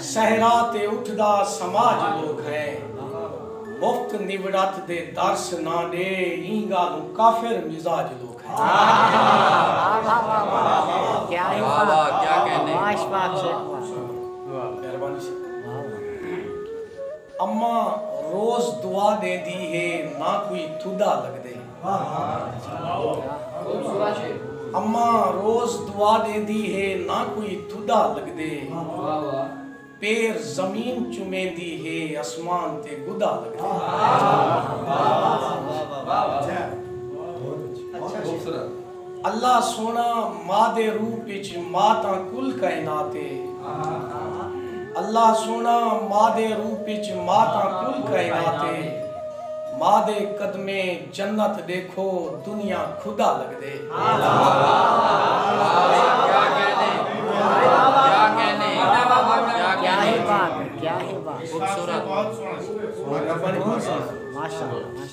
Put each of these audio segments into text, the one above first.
صحرا تے اٹھدا سماج لوک ہے مفت نوڑت دے درس نہ ڈے ایں گالوں کافر مزاج لوک ہے۔ اماں روز دعا ڈیندی ہے نہ کوئی تھڈا لگدے۔ اماں روز دعا ݙیندی ہے نہ کوئی تھڈا لڳدے پیر زمین چمیندی ہے اسمان تے گڈا لڳدے۔ اللہ سوہݨا ماء دے روپ اچ ماء تاں کل کائنات اے اللہ سوہݨا ماء دے روپ اچ ماء تاں کل کائنات اے ماء دے قدمیں جنت ݙیکھو دنیا خدا لڳدے۔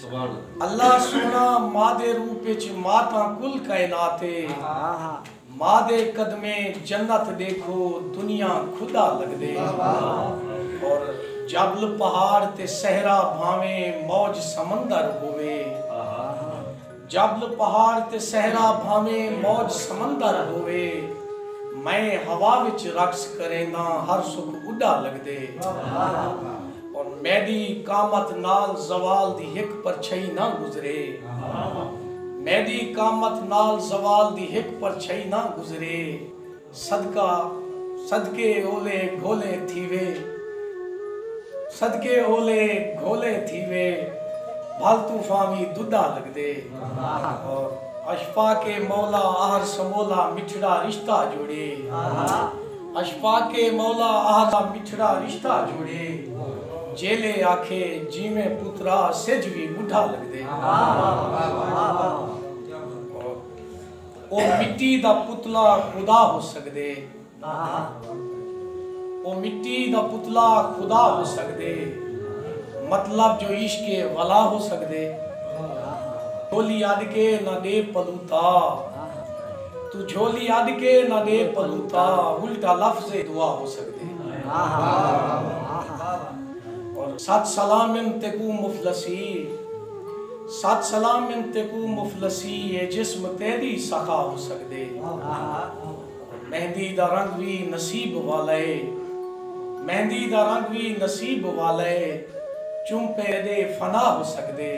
اللہ سوہݨا مادے روپ اچ ماتاں کل کائنات اے مادے قدمیں جنت ݙیکھو دنیا خدا لڳدے اور جبل پہاڑ تے صحرا بھانویں موج سمندر ہووے جبل پہاڑ تے صحرا بھانویں موج سمندر ہووے میں ہوا وچ رقص کرینداں ہر سکھ اݙا لڳدے۔ اور میݙی قامت نال زوال دی ہک پرچھئی نہ گزرے۔ میݙی قامت نال زوال دی ہک پرچھئی نہ گزرے۔ صدقہ صدقے اولے گھولے تھیوے۔ صدقے اولے گھولے تھیوے۔ بھل طوفاں وی ݙݙا لڳدے۔ اور اشفاق مولا آہر سمولا مٹھڑا رشتہ جوڑے۔ اشفاق مولا اہدا مٹھڑا رشتہ جوڑے جیلے آکھے جیویں پترا سجھ وی ٻڈھا لگدے او مٹی دا پتلا خدا ہو سگدے او مٹی دا پتلا خدا ہو سگدے مطلب جو عشق ولا ہو سگدے ڈولی اڈ کے نہ ڈے پلوتا۔ توں جھولی اڈ کے نہ ڈے پلوتا الٹا لفظ اے دعا ہو سگدے اور ست سلام من تیکوں مفلسی ست سلام من تیکوں مفلسی اے جسم تیڈی سخا ہو سگدے اور مہندی دا رنگ وی نصیب والا اے مہندی دا رنگ وی نصیب والا اے چمپے ڈے فنا ہو سگدے۔